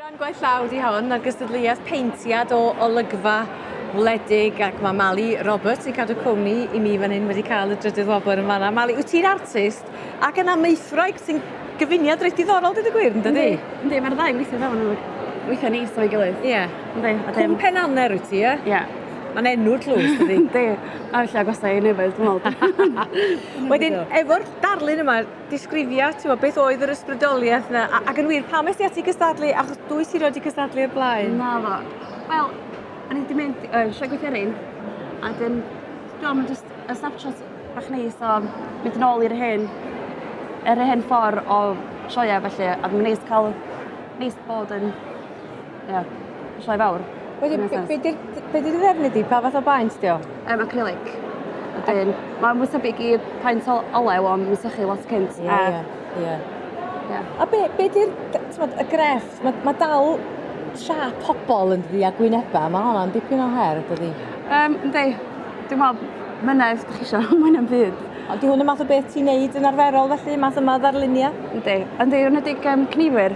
Rhan gwaith llaw di hon ar gystadleuaeth peintiad o olygfa wledig ac mae Mali Roberts yn cadw cwmni i mi fan hyn wedi cael y drydydd wobr yn fanna. Mali, wyt ti'n artist ac yn amaethwraig sy'n gyfuniad reit diddorol, dydw i gwir, yn dydy? Ynddi, mae'r ddau weithio fewn yn weithio neis o'i gilydd. Ie. Ynddi. Cwm Pen Anner wyt ti, ie? Ie. Mae'n enw tlws, dydy? Di, a felly agosau i nefyd, dwi'n meddwl. Wedyn, efo'r darlun yma, disgrifia, ti'n meddwl, beth oedd yr ysbrydoliaeth yna, ac yn wir, pam ysdi ati cystadlu, achos dwy si roed i cystadlu o'r blaen? Na fo. Wel, o'n i wedi mynd uh, sioe gweithiorin, a dyn, dwi'n meddwl, just a snapshot bach neis o mynd yn ôl i'r hen, yr hen ffordd o sioia, felly, a dwi'n neis cael, neis bod yn Ie. Mae'n sioe fawr. Wedyn be' be' 'di'r d- be' 'di dy ddefnydd di pa fath o baent 'di o? Yym acrylic. Wedyn ma' mwy tebyg i paent o- olew on' ma' sychu lot cynt a... Ie ie. Ie. Ie. A be' be' 'di'r d- t'mod y grefft ma' ma' dal siâp pobol yndydi a gwyneba ma' honna'n dipyn o her dydi? Yym yndi. Dwi me'wl myna os 'dach chi isio mwy na'm byd. Ond 'di hwn y math o beth ti'n neud yn arferol felly math yma o ddarlunia? Yndi yndi enedig yym cneifwyr.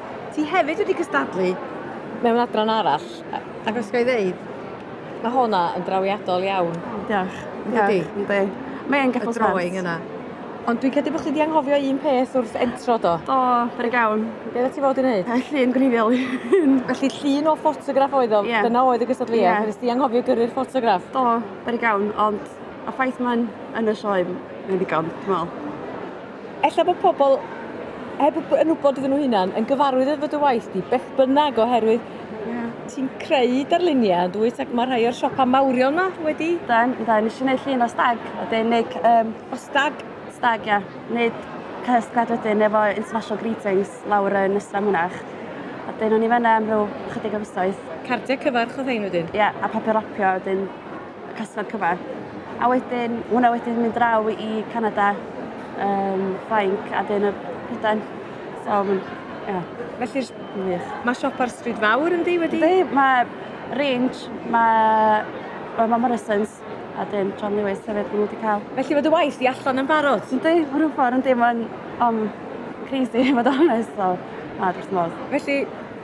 Ti hefyd wedi cystadlu mewn adran arall, ac os gael ei ddeud, mae hwnna yn drawiadol iawn. Diolch. Ydy. Ydy. Mae'n geffil sbens. Y drawing yna. Ond dwi'n credu bod chi wedi anghofio un peth wrth entro do? Do, fer gawn. Be oeddet ti fod i wneud? Yy, llun gwreiddiol. Felly llun o ffotograff oedd o, yeah. dyna oedd y gystadleuaeth. Yeah. Nes ti anghofio gyrru'r ffotograff? Do, fer gawn, ond y ffaith mae'n yn y sioe, mae'n ddigon, dwi'n meddwl. Ella bod pobl, heb yn wybod iddyn nhw hunan, yn gyfarwydd efo dy waith di, beth bynnag, oherwydd ti'n creu darluniau, dwyt, ac mae rhai o'r siopa mawrion yma wedi... Da, da, nes i wneud llun o stag, a dyn neud... Um, o stag? Stag, ia. Wneud cysgad wedyn efo International Greetings lawr yn Ysra Mynach. A dyn o'n i fanna am rhyw chydig o fisoedd. Cardiau cyfarch oedd hein wedyn? Ia, a papur rapio, a dyn Customer cover. A wedyn, hwnna wedyn mynd draw i Canada, um, Ffrainc, a dyn y Prydain. So, ie. Felly, mae siop ar Stryd Fawr yn di wedi? Di, mae Range, mae, well, mae Morrison's, a dyn John Lewis hefyd maen wedi cael. Felly fod y waith i allan yn barod? Yn di, hwnnw ffordd yn di, mae'n um, crazy, fod o'n nes, so, na, dwi'n modd. Felly,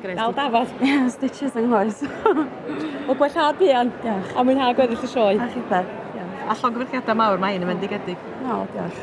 Gwneud Dal dafod. Ie, stitches yng nghoes. Wel, gwella buan. Diolch. A mwynhau gweddill y sioe. A chi beth. Diolch. A llongyfarchiadau mawr, mae hyn yn fendigedig. O, diolch.